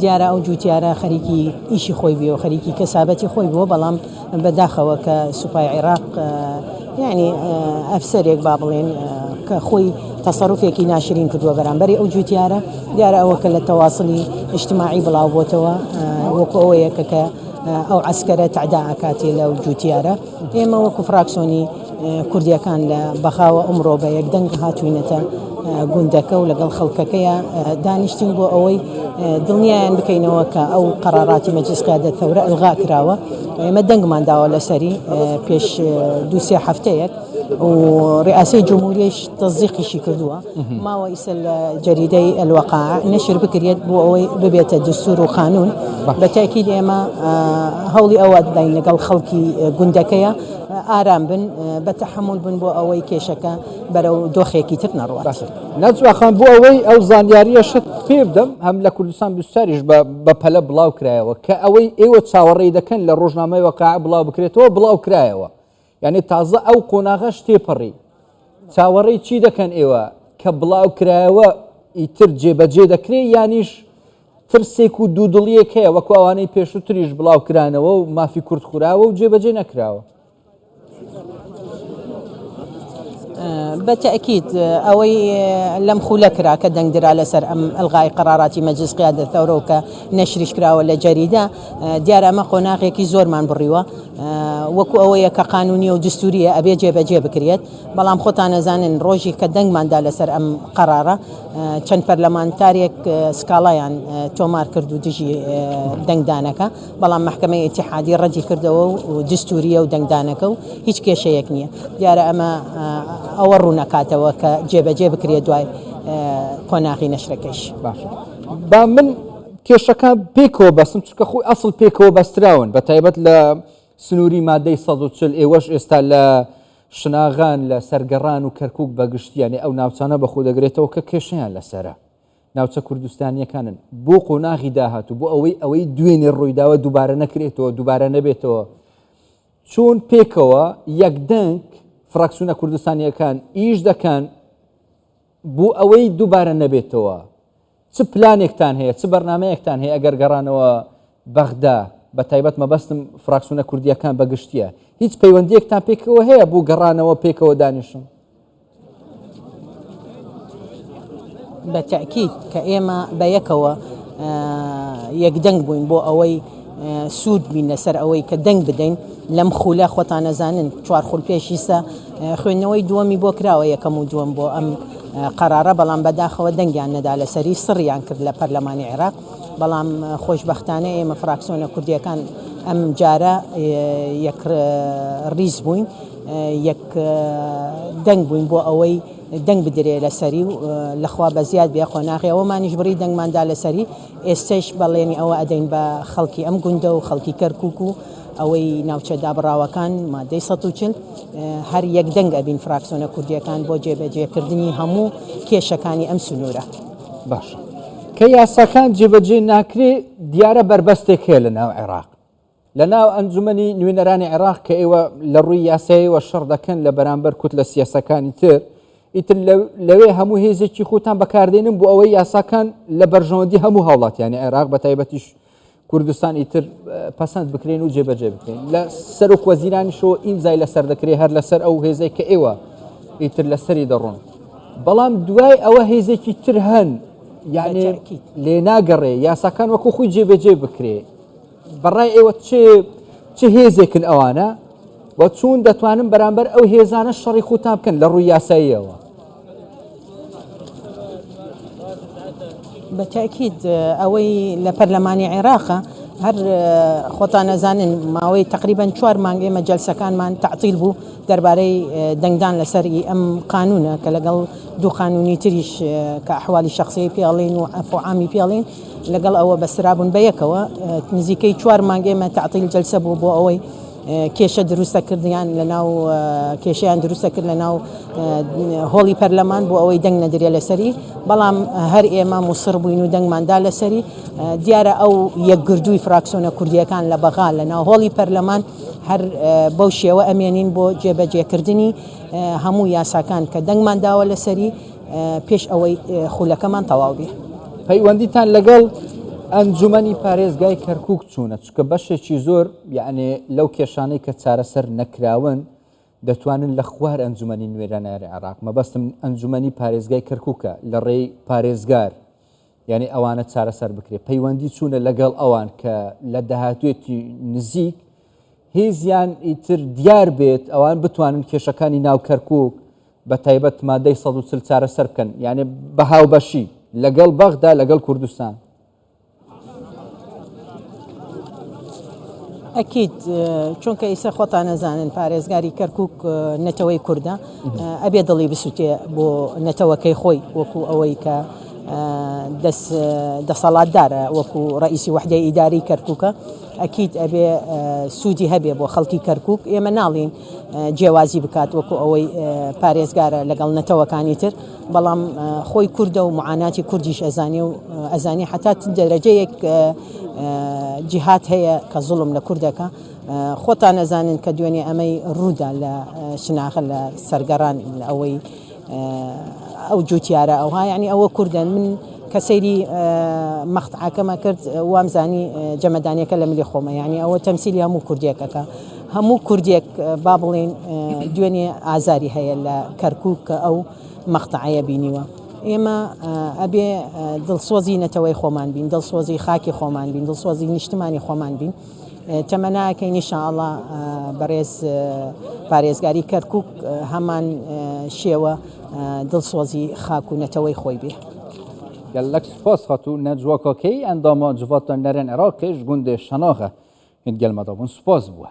دیارە ئەو جوتیارە خەریکی ئیشی خۆی بووە خەریکی کەسابەتی خۆی بووە بەڵام بەداخەوە کە سوپای عێراق یعنی ئەفسەرێک با بڵێن کە خۆی تەسەرفێکی ناشرین کردووە بەرامبەری ئەو جوتیارە دیارە ئەوە کە لە تەواصلی ئیشتماعی بڵاو بۆتەوە وەکو ئەوەیە کە کە ئەو عسکەرە تعدا ئەکاتی لەو جوتیارە ئێمە وەکو فراکسۆنی کوردیەکان لە بەغاوە ئەمڕۆ بە یەک دەنگ هاتووینەتە گوندەکە و لەگەڵ خەڵکەکەیا دانیشتین بۆ ئەوەی دڵنیایان بکەینەوە کە ئەو قەراراتی مەجلس قیادەت تەورە ئەلغا کراوە ئێمە دەنگمان داوە لەسەری پێش دوو سێ هەفتەیەک و ڕئاسەی جمهوریش تەزیقیشی کردووە ماوە ئیسە لە جەریدەی ئەلوەقا نەشر بکرێت بۆ ئەوەی ببێتە دستور و قانون بە تاکید ئێمە هەوڵی ئەوە دەدەین لەگەڵ خەڵکی گوندەکەیە ئارام بن، بە تەحەمول بن بۆ ئەوەی کێشەکە بەرەو دۆخێکی تر نەڕوات. نەجم ئاخان، بۆ ئەوەی ئەو زانیارییەشت پێ بدەم، هەم لە کوردستان بیست و چاریش بە بە پەلە بڵاو کرایەوە کە ئەوەی ئێوە چاوەڕێی دەکەن لە ڕۆژنامەی واقیع بڵاو بکرێتەوە بڵاو کرایەوە، یانی تازە ئەو قۆناغەش تێپەڕی. چاوەڕێی چی دەکەن ئێوە کە بڵاو کرایەوە ئیتر جێبەجێ دەکرێ یانیش؟ ترسێک و دوودڵیەک هەیە وەکو ئەوانەی پێشوتریش بڵاوکرانەوە و مافی کورد خوراوە و جێبەجێ نەکراوە. بەتەئکید ئەوەی لەم خولە کرا کە دەنگ درا لەسەر ئەم ئەلغای قەراراتی مەجلس قیادەت تەورە و کە نەشریش کراوە لە جەریدە دیارە ئەمە قۆناغێکی زۆرمان بڕیوە وەکو ئەوەیە کە قانونیە و دستوریە ئەبێ جێبەجێ بکرێت بەڵام خۆتان نەزانن ڕۆژی کە دەنگماندا لەسەر ئەم قەرارە چەند پەرلەمانتارێک سکاڵایان تۆمار کرد و دژی دەنگدانەکە بەڵام محکمەی ئتیحادی ڕەدی کردەوە و دستوریە و دەنگدانەکە و هیچ کێشەیەک نییە دیارە ئەمە ئەوە ڕوونەکاتەوە کە جێبەجێ بکرێت دوای قۆناغی نەشرەکەش باش با من کێشەکە پێکەوە بەسم چکە خۆی ئەسڵ پێکەوە بەستراون بە تایبەت لە سنووری مادەی 140 ئێوەش ئێستا لە شناغان لە سەر گەڕان و کەرکوک بە گشتی یانێ ئەو ناوچانە بە خۆ دەگرێتەوە کە کێشەیان لە سەرە. ناوچە کوردستانییەکانن. بۆ قۆناغی داهاتوو، بۆ ئەوەی ئەوەی دوێنێ ڕووی داوە دووبارە نەکرێتەوە، دووبارە نەبێتەوە، چۆن پێکەوە، یەک دەنگ، فراکسیونە کوردستانییەکان ئیش دەکەن، بۆ ئەوەی دووبارە نەبێتەوە چ پلانێکتان هەیە چ بەرنمەیەکتان هەیە ئەگەر گەڕانەوە بەغدا بە تایبەت مەبەستم فراکسونە کوردیەکان بەگشتیە هیچ پەیوەندیەکتان پێکەوە هەیە بۆ گەڕانەوە پێکەوە دانیشن بە تاکیید کە ئێمە بە یەکەوە یەکدەنگ بووین بۆ ئەوەی سود بین لەسەر ئەوەی کە دەنگ بدەین لەم خولە خۆتان ئەزانن چوار خول پێشی سە خوێندنەوەی دووەمی بۆ کراوە یەکەم و دووەم بۆ ئەم قەرارە بەڵام بەداخەوە دەنگیان نەدا لەسەری سڕیان کرد لە پەرلەمانی عێراق بەڵام خۆشببختانە ئێمە فراکسۆنە کوردیەکان ئەم جارە یەک ڕیز بووین یەک دەنگ بووین بۆ ئەوەی دەنگ بدرێ لەسەری و لەخوا بە زیاد بێ قۆناغی ئەوەمانیش بڕی دەنگماندا لەسەری ئێستەیش بەڵێنی ئەوە ئەدەین بە خەڵکی ئەم گوندە و خەڵکی کەرکوک و ئەوەی ناوچە دابڕاوەکان مادەی سەد و چل هەر یەک دەنگ ئەبین فراکسۆنە کوردیەکان بۆ جێبەجێکردنی هەموو کێشەکانی ئەم سنوورە. باشە کە یاساکان جێبەجێ ناکرێ دیارە بەربەستێک هەیە لە ناو عێراق لە ناو ئەنجومەنی نوێنەرانی عێراق کە ئێوە لە ڕووی یاسایەوە شەڕ دەکەن لە بەرامبەر کوت لە سیاسەکانی تر ئیتر لەوێ هەموو هێزێکی خۆتان بەکاردێنن بۆ ئەوەی یاساکان لە بەرژەوەندی هەموو هاوڵاتیانی عێراق بە تایبەتیش کوردستان ئیتر پەسەند بکرێن و جێبەجێ بکرێن لە سەر و وەزیرانیشەوە ئیمزای لەسەر دەکرێ هەر لەسەر ئەو هێزێک کە ئێوە ئیتر لەسەری دەڕۆن بەڵام دوای ئەوە هێزێکی تر هەن یعنی لێ ناگەڕێ یاساکان وەکو خۆی جێبەجێ بکرێ بەڕای ئێوە چ چ هێزێکن ئەوانە و چون دەتوانن بەرامبەر ئەو هێزانە شەڕی خوتان بکەن لە ڕووی یاساییەوە بەتاکیید ئەوەی لە پەرلەمانی عێراقە هەر خۆتان نەزانن ماوەی تقریبان چوار مانگ ئێمە جلسەکانمان تعطیل بوو دەربارەی دەنگدان لەسەری ئەم قانونە کە لەگەڵ دوو قانونی تریش کە حوالی شخصی پیاڵین و ئەفعامی پیاڵین لەگەڵ ئەوە بەسترابوون بە یەکەوە نزیکەی چوار مانگ ئێمە تەعتیل جەلسە بوو بۆ ئەوەی کێشە دروستە کردیان لە ناو کێشیان دروستە کرد لە ناو هۆڵی پەرلەمان بۆ ئەوەی دەنگ نەدرێ لەسەری بەڵام هەر ئێمە موسڕ بووین و دەنگماندا لەسەری دیارە ئەو یەکگردووی فراکسۆنە کوردیەکان لە بەغا لە ناو هۆڵی پەرلەمان هەر بەو شێوە ئەمێنین بۆ جێبەجێکردنی هەموو یاساکان کە دەنگمان داوە لەسەری پێش ئەوەی خولەکەمان تەواو بێ. پەیوەندیتان لەگەڵ ئەنجومەنی پارێزگای کەرکک چوونە چکە بەشێکی زۆر یعنێ لەو کێشانەی کە چارەسەر نەکراون دەتوانن لە خوار ئەنجومەنی نوێراناری عراق مەبەستم ئەنجومەنی پارێزگای کەرککە لە ڕێی پارێزگار یانی ئەوانە چارەسەر بکرێت پەیوەندی چوونە لەگەڵ ئەوان کە لە داهاتوێتی نزیک هێزیان ئیتر دیار بێت ئەوان بتوانن کێشەکانی ناو کەرکک بە تایبەت مادەی 140 چارە سەر بکەن یانێ بە هاوبەشی لەگەڵ بەغدا لەگەڵ کوردستان ئەکید چونکە ئیسە خۆتان ئەزانن پارێزگاری کەرکک نەتەوەی کوردە ئەبێ دڵی بسووتێ بۆ نەتەوەکەی خۆی وەکو ئەوەی کە دەسەڵاتدارە وەکو ڕئیسی وحدەی ئیداری کەرککە ئەکییت ئەبێ سوودی هەبێ بۆ خەڵکی کەرکک ئێمە ناڵین جیاوازی بکات وەکو ئەوەی پارێزگارە لەگەڵ نەتەوەکانی تر بەڵام خۆی کوردە و معاناتی کوردیش ئەزانێ و ئەزانێ حەتا چ دەرەجەیەک جیهاد هەیە کە زوڵم لە کورد دەکا خۆتان ئەزانن کە دوێنێ ئەمەی ڕوودا لە شناغە لە سەرگەڕان ئەوەی ئەو جوتیارە ئەوها یعنی ئەوە کوردە من کە سەیری مەقتعەکەمە کرد وامزانی جەمەدانیەکە لە ملی خۆمە یعنی ئەوە تەمسیلی هەموو کوردێکەکە هەموو کوردێک با بڵێین دوێنێ ئازاری هەیە لە کەرکوک کە ئەو مەقتەعەیە بینیوە ئێمە ئەبێ دڵسۆزی نەتەوەی خۆمان بین دڵسۆزی خاکی خۆمان بین دڵسۆزی نیشتمانی خۆمان بین تەمەناکەی نیشاءله بەڕێز پارێزگاری کەرکک هەمان شێوە دڵسۆزی خاک و نەتەوەی خۆی بێ. گەللەک سوپاس خاتوو نەجوا کاکەیی ئەندامە جڤاتە نەرێن عێراقێش گوندێ شەناغە هێد گەلمەدا بوون سوپاس بووە.